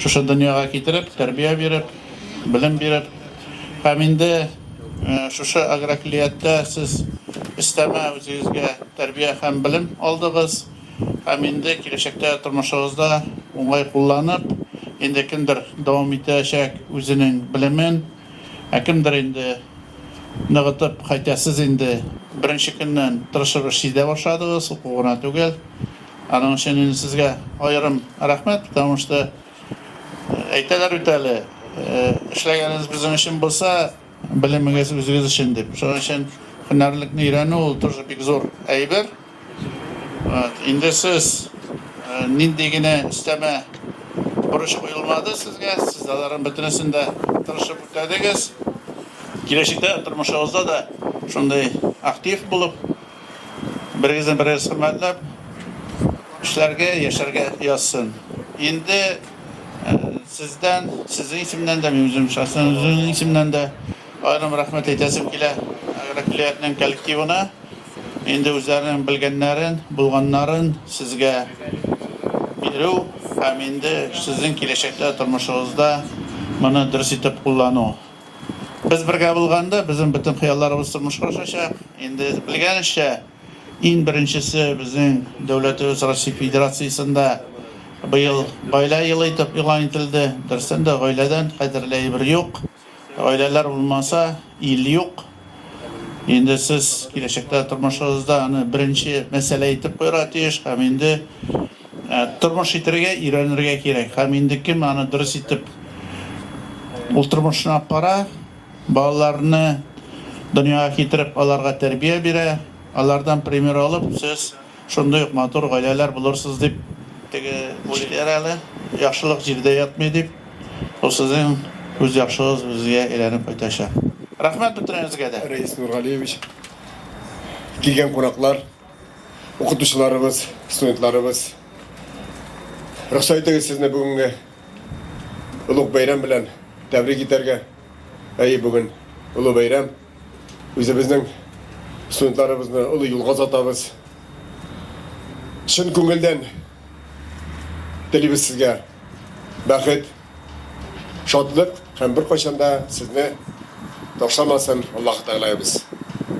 Шушы дөньяга китереп, тәрбия биреп, белем биреп һәм инде шушы агроклиятдә сез өстәмә үзегезгә тәрбия һәм белем алдыгыз һәм инде киләчәктә тормышыгызда уңай кулланып, инде кемдер дәвам итәчәк үзенең белемен, ә кемдер инде ныгытып, хәйтә сез инде беренче көннән тырышып эшли дә башладыгыз, уку гына түгел. Аның өчен инде сезгә аерым рәхмәт, потому что әйтәләр бит әле, эшләгәнегез безнең өчен булса, белемегез үзегез өчен дип. Шуның өчен һөнәрлекне өйрәнү ул тоже бик зур әйбер. Вот, инде сез нинди генә өстәмә бурыч куелмады сезгә, сез аларның бөтенесен дә тырышып үтәдегез. Киләчәктә тормышыгызда да шундый актив булып, Берегезне берегез хөрмәтләп эшләргә, яшәргә язсын. Инде сездән, сезнең исемнән дә, мин үзем шәхсән үземнең исемнән дә аерым рәхмәт әйтәсем килә агрокөллиятнең коллективына. Инде үзләренең белгәннәрен, булганнарын сезгә бирү һәм инде сезнең киләчәктә тормышыгызда моны дөрес итеп куллану. Без бергә булганда, безнең бөтен хыялларыбыз тормышка ашачак. Инде белгәнезчә, иң беренчесе безнең дәүләтебез Россия Федерациясендә быел гаилә елы итеп игълан ителде. Дөрестән дә, гаиләдән кадерле әйбер юк. Гаиләләр булмаса, ил юк. Инде сез киләчәктә тормышыгызда аны беренче мәсьәлә итеп куярга тиеш һәм инде тормыш итәргә өйрәнергә кирәк. Һәм инде кем аны дөрес итеп ул тормышны алып бара, балаларны дөньяга китереп, аларга тәрбия бирә, алардан пример алып, сез Шундый ук матур гаиләләр булырсыз дип. Теге үлеләр әле, яхшылык җирдә ятмый дип, ул сезнең күз яхшыгыз үзегә әйләнеп кайтачак. Рәхмәт бөтенегезгә дә! Рәис Нургалиевич, килгән кунаклар, укытучыларыбыз, студентларыбыз! Рөхсәт итегез сезне бүгенге олуг бәйрәм белән тәбрик итәргә. Әйе, бүген олы бәйрәм. Үзебезнең студентларыбызны олы юлга озатабыз. Чын күңелдән телибез сезгә бәхет, шатлык һәм беркайчан да сезне ташламасын Аллаһы Тәгаләебез.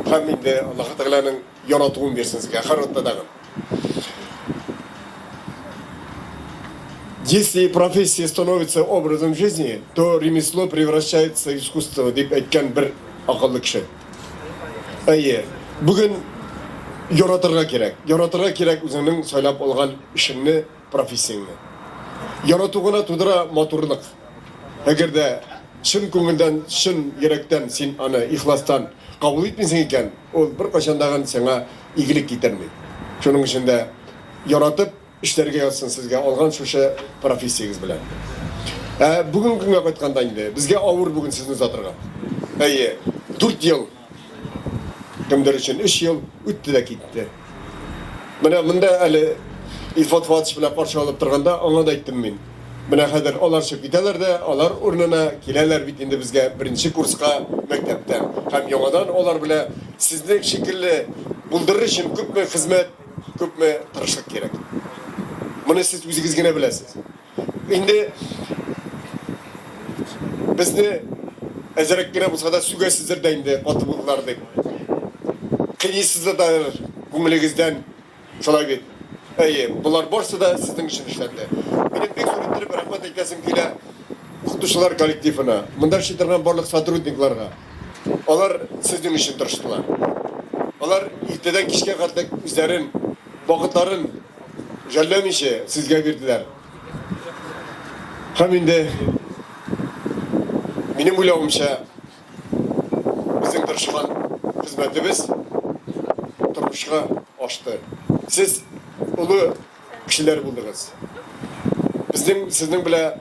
Һәм инде Аллаһы Тәгаләнең Яратуым бирсен сезгә һәр атна тагын. Если профессия становится образом жизни, то ремесло превращается в искусство, дип әйткән бер акыллы кеше. Әйе, бүген яратырга кирәк. Яратырга кирәк үзеңнең сайлап алган эшеңне. Профессияңне ярату гына тудыра матурлык. Әгәр дә чын күңелдән, чын йөрәктән син аны ихластан кабул итмисең икән, ул беркайчан да гын сиңа игелек китерми. Шуның өчен дә яратып эшләргә язсын сезгә алган шушы профессиягез белән. Ә бүгенге көнгә кайтканда инде, безгә авыр бүген сезне озатырга. Әйе, дүрт ел. Кемдер өчен өч ел үтте дә китте. Менә монда әле Илфат Фатыч белән каршы алып торганда аңа да әйттем мин. Менә хәзер алар чыгып китәләр дә, алар урынына киләләр бит инде безгә беренче курска мәктәптән. Һәм яңадан алар белән сезнең шикелле булдырыр өчен күпме хезмәт, күпме тырышлык кирәк. Моны сез үзегез генә беләсез. Инде безне әзерәк кенә булса да сүгәсездер дә инде каты булдылар дип. Кыйныйсыздыр да күңелегездән шулай бит. Әйе, болар барсы да сезнең өчен эшләнде. Минем бик зур иттереп рәхмәт әйтәсем килә укытучылар коллективына, монда эшли торган барлык сотрудникларга. Алар сезнең өчен тырыштылар. Алар иртәдән кичкә кадәр үзләрен, вакытларын Жәлләмичә, сезгә бирделәр. Һәм инде, минем уйлавымча, безнең тырышкан хезмәтебез тормышка ашты. Сез олы кешеләр булдыгыз. Безнең сезнең белән.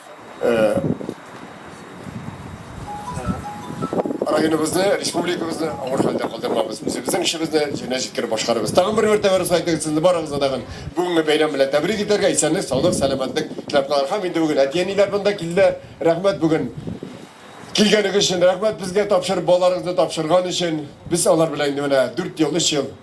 Районыбызны, республикабызны авыр хәлдә калдырмабыз. Үзебезнең эшебезне җиренә җиткереп башкарабыз. Тагын бер мәртәбә русла әйтегез, сезне барыгызны да гын бүгенге бәйрәм белән тәбрик итәргә, исәнлек, саулык, сәламәтлек теләп калырга. Һәм инде бүген әти-әниләр монда килде. Рәхмәт бүген килгәнегез өчен, рәхмәт безгә тапшырып, балаларыгызны тапшырган өчен. Без алар белән инде менә дүрт ел, өч ел.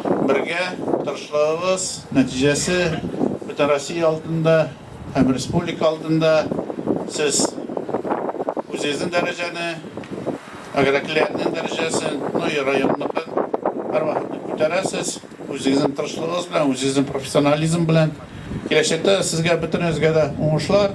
Бергә тырышлыгыбыз нәтиҗәсе Бөтенроссия алдында һәм республика алдында сез үзегезнең дәрәҗәне, агроклиентның дәрәҗәсен, ну и районныкын һәрвакыт күтәрәсез. Үзегезнең тырышлыгыгыз белән, үзегезнең профессионализм белән. Киләчәктә сезгә, бөтенегезгә дә уңышлар!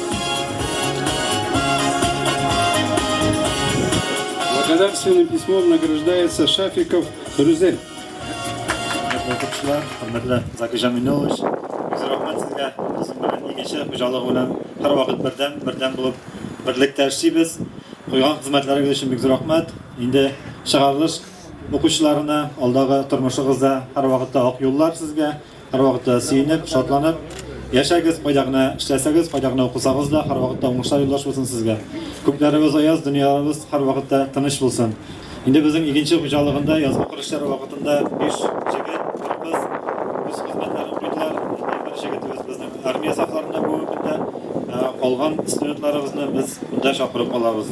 Благодарственным письмом награждается Шафиков Рүзел. Хөрмәтле укучылар, хөрмәтле Закир Җаминуллович, бик зур рәхмәт сезгә. Безнең белән игенче хуҗалыгы белән һәрвакыт бердәм, бердәм булып, берлектә эшлибез. Куйган хезмәтләрегез өчен бик зур рәхмәт. Инде чыгарылыш укучыларына, алдагы тормышыгызда һәрвакытта ак юллар сезгә. Һәрвакытта сөенеп, шатланып Яшәгез, кайда гына эшләсәгез, кайда гына укысагыз да, һәрвакытта уңышлар юлдаш булсын сезгә. Күкләребез аяз, дөньяларыбыз һәрвакытта тыныч булсын. Инде безнең игенче хуҗалыгында язгы кыр эшләре вакытында биш җегет, бер кыз үз хезмәтләрен куйдылар. Әти бер җегетебез безнең армия сафларында бүгенге көндә. Калган студентларыбызны без монда чакырып алабыз.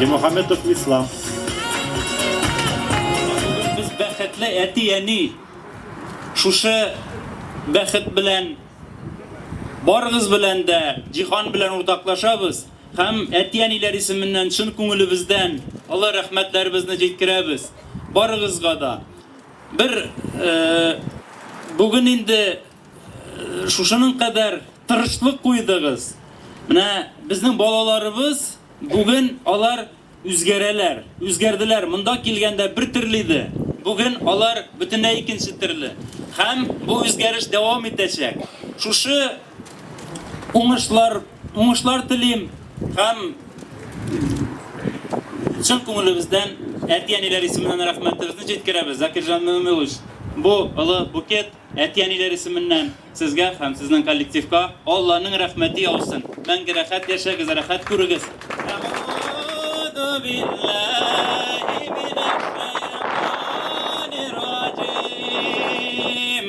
Димөхәммәтов Ислам. Бүген без бәхетле әти-әни. Шушы бәхет белән барыгыз белән дә, җиһан белән уртаклашабыз һәм әти-әниләр исеменнән чын күңелебездән олы рәхмәтләребезне җиткерәбез барыгызга да. Бер бүген инде шушының кадәр тырышлык куйдыгыз. Менә безнең балаларыбыз бүген алар үзгәрәләр, үзгәрделәр. Монда килгәндә бер төрле иде, бүген алар бөтенләй икенче төрле. Һәм бу үзгәреш дәвам итәчәк. Шушы Уңышлар, уңышлар телим һәм чын күңелебездән әти-әниләр исеменнән рәхмәтебезне җиткерәбез. Закирҗан Мөмилович, бу олы букет әти-әниләр исеменнән сезгә һәм сезнең коллективка Алланың рәхмәте яусын. Мәңге рәхәт яшәгез, рәхәт күрегез. Әгъүзүбиллаһи минәш шәйтанир раҗим.